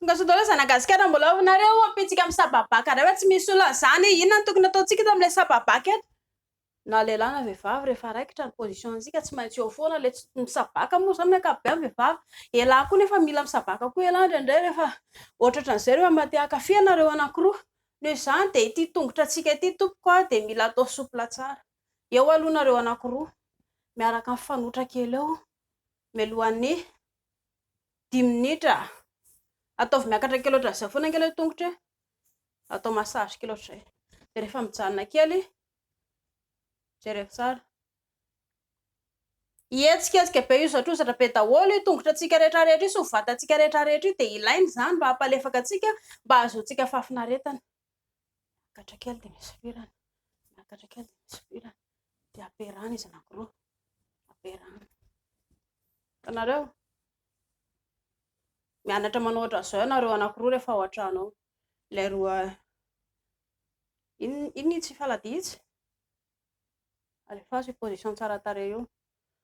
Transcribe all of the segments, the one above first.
Tonga Zanagasikara mbola ao nareo ampitsika amin'ny sababaka ray fa tsy misy olona zany e inona no tokony ataontsika eto amin'ilay sababaka eto na lehilahy na vehivavy rehefa raikitra ny position antsika tsy maintsy eo foana ilay tsy misabaka moa zany ny ankapobeny vehivavy elah koa nefa mila misabaka koa elah indraindray rehefa ohatratra an'izay rehefa mba te hankafy anareo anankiroa noho izany dia ity tongotra antsika ity tompoko aho dia mila atao soupla tsara Eo aloha nareo anakiroa miaraka mifanotra kely eo mialohan'ny dimy minitra. Ataovy miakatra kely ohatran'izay foana kely ny tongotra e. Atao massage kely ohatr'izay. Dia rehefa mijanona kely, jereo tsara. Hihetsiketsika be io zatrozatra be daholo io tongotratsika rehetra rehetra io sy ny vatantsika rehetra rehetra io dia ilaina izany mba hampalefaka antsika mba hahazoantsika fahafinaretana. miakatra kely dia misy firany, miakatra kely dia misy firany, dia ampiarahana izy anankiroa, ampiarahana. Hitanareo? Mianatra manao ohatran'izao ianareo anankiroa rehefa ao an-trano ao. Ilay roa, inona inona itsy faladia itsy? Alefaso io position tsara tarehy io.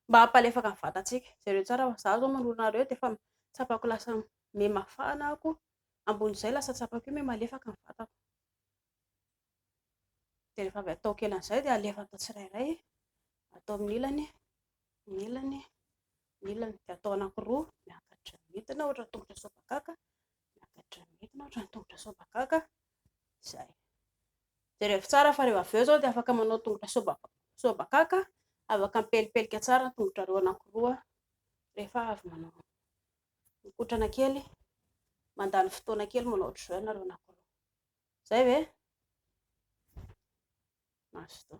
Mba hampalefaka ny vatantsika. Jereo tsara fa izaho izao manoloana anareo dia efa tsapako lasa mihamafana ako. ambony izay lasa tsapako eo hoe malefaka ny vatako. Dia rehefa avy ataoko ela an'izay dia alefa atao tsirairay, atao amin'ny ilany, ny ilany, ny ilany. Dia atao anankiroa, miakatra midina ohatra ny tongotra sobakaka, miakatra midina ohatra ny tongotra sobakaka, izay. Jerevo tsara fa rehefa avy eo izao dia afaka manao tongotra sobakaka, sobakaka, afaka mipelipelika tsara ny tongotrareo anankiroa rehefa avy manao. Mikotrana kely, mandany fotoana kely manao ohatr' izao ianareo na koa. Zay ve? Mazotoa.